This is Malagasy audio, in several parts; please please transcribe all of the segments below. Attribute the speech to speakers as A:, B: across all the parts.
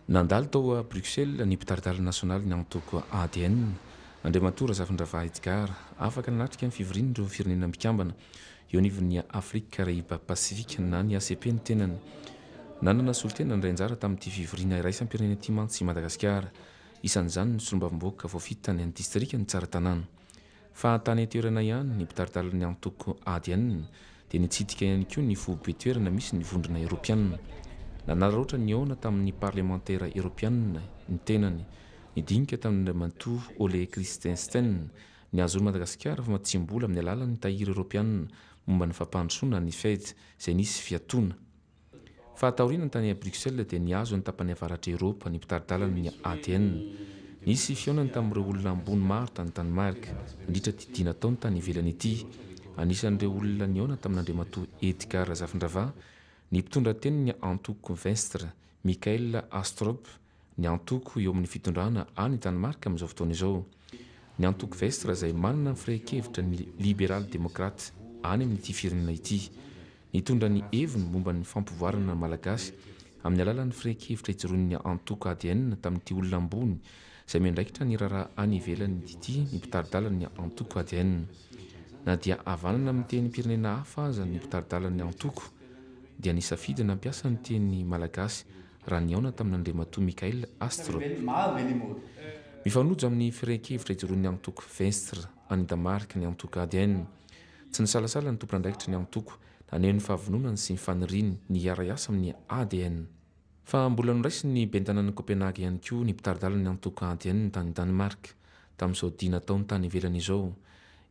A: Nandalo tao Bruxelles ny mpitari-dalana nasionalin'ny antoko ADN, Andriamatoa Razafindravahy Edgard, afaka nanatrika ny fivorian'ireo firenena mpikambana eo anivon'ny Afrique Caraïbes Pacifique na ny ACP ny tenany. Nanana solontena nandray anjara tamin'ity fivoriana iraisam-pirenena ity mantsy i Madagasikara, isan'izany ny solombavambahoaka voafidy tany amin'ny distrikan'i Tsaratanàna. Fa tany an-toerana ihany, ny mpitari-dalana ny antoko adn dia nitsidika ihany koa ny foibe toerana misy ny vondrona eropeanina. Nanararaotra nihaona tamin'ny parlemantera eropeanina ny tenany, nidinika tamin'Andriamatoa Ole Christensen ny hahazoan'i Madagasikara famatsiam-bola amin'ny alalan'ny Tahiry Eropeanina momba ny Fampandrosoana, ny Fed, izay nisy fiatoana. Faha taoriana tany à Bruxelles dia nihazo ny tapany avaratra Eropa ny mpitari-dalana ny ADN. Nisy fihaonany tamin'ireo olona ambony maro tany Danemark, nandritra ity dia nataony tany ivelany ity. Anisan'ireo olona nihaona tamin'Andriamatoa Edgard Razafindravaha ny mpitondra tenin'ny antoko Venstre, Michael Astrup, ny antoko eo amin'ny fitondrana any Danemark amin'izao fotoana izao, ny antoko Vestre izay manana ny firehan-kevitra ny Liberaly Demokraty any amin'ity firenena ity. Nitondra ny heviny momba ny fampivoarana ny Malagasy amin'ny alalan'ny firehan-kevitra ijoroan'ny antoko ADN tamin'ity olona ambony izay miandraikitra ny raharaha any ivelany ity ny mpitari-dalan'ny antoko ADN. Na dia havanana amin'ny tenim-pirenena hafa aza ny mpitari-dalan'ny antoko dia nisafidy nampiasa ny teny malagasy raha nihaona tamin'Andriamatoa Mikhail Astrov. Mifanojo amin'ny firehan-kevitra ijoroan'ny antoko Venstre any Damarka ny antoko ADN. Tsy nisalasala ny tompon'andraikitry ny antoko naneho ny fahavononany sy ny faniriany ny hiara-hiasa amin'ny ADN. Fa mbola noraisin'ny Bentanan'i Copenhague ihany koa ny mpitari-dalan'ny antoko ADN tany Danemark tamin'izao dia nataony tany ivelany izao.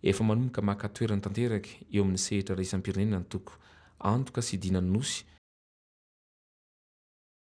A: Efa manomboka maka toerana tanteraka eo amin'ny sehatra iraisam-pirenena ny antoko Antoka sy Dina Nosy.